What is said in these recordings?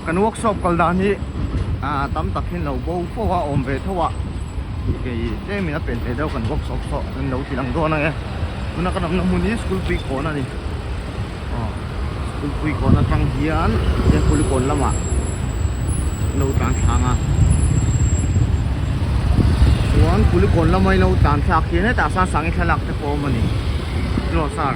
Kan workshop kal dan hi tam tak hi lo bo fo a awm ve tho a tih kei tlem in a pen ve deuh kan workshop saw kan lo ti lang dawn ang e tuna kan awm na hmun hi school pui kawn a ni aw school pui kawn atang hian heng pui kawn lamah an lo tlan thlâng a chuan pui kawn lamah i lo tlan thlak hian hetah sang sangi thlalak te pawh a awm a ni tilo sar.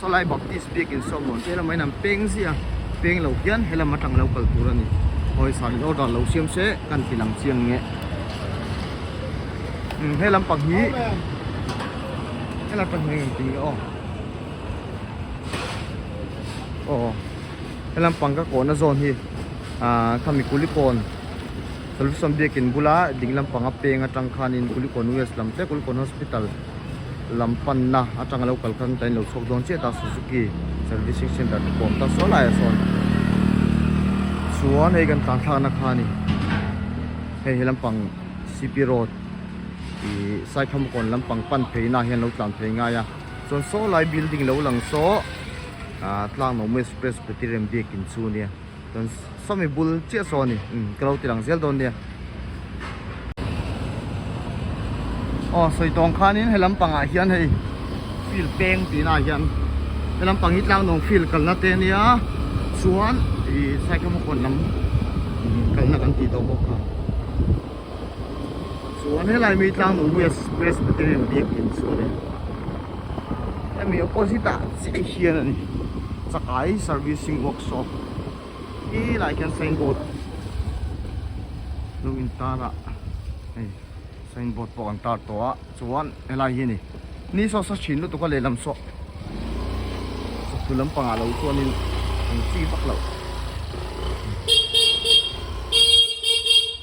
Salai Baptist biakin sawi mawn che lam a inang peng zia peng lo hian he lam atang lo kal tur a ni hawi san in order lo siam se kan ti lang chiang nge he lam pang hi he lam pang hi ti o o he lam pang ka kona zon hi a khami kulipon solution biakin bula ding lam panga peng atang khan in kulipon west lam te kulipon hospital lam panna atanga lo kal khan tain lo chhuak dawn chiah ta suzuki servicing centre te pawm ta suah laiah sawn chuan hei kan tlan thlakna kha ni hei hi lampang cp road ih saikhamkawn lampang pan pheina hian lo tlan phei ngai a chuan saw lai building lo lang saw ah tlaknawm express pawh tirem biakin chu nia. chuan sawmi bul chiah saw a ni umm ka lo tilang zel dawn nia aw sawi tawng khanin he lampangah hian hei field peng tihna ah hian he lampang hi tlangnawng field kalna te a nia chuan ih cycle hmakuan lam kalna kan tih tawh bawk a. chuan helai mi tlang nung west west te hi an biak thin sual e hemi opposite ah chiah hian a ni chakai servicing workshop khi lai khian sign board lo in tar a hei sign board pawh an tar tawh a chuan helai hi a ni ni sauce a chhin lutuk a lehlam saw sawhthul lampang ah lo chuan in an chi vak lo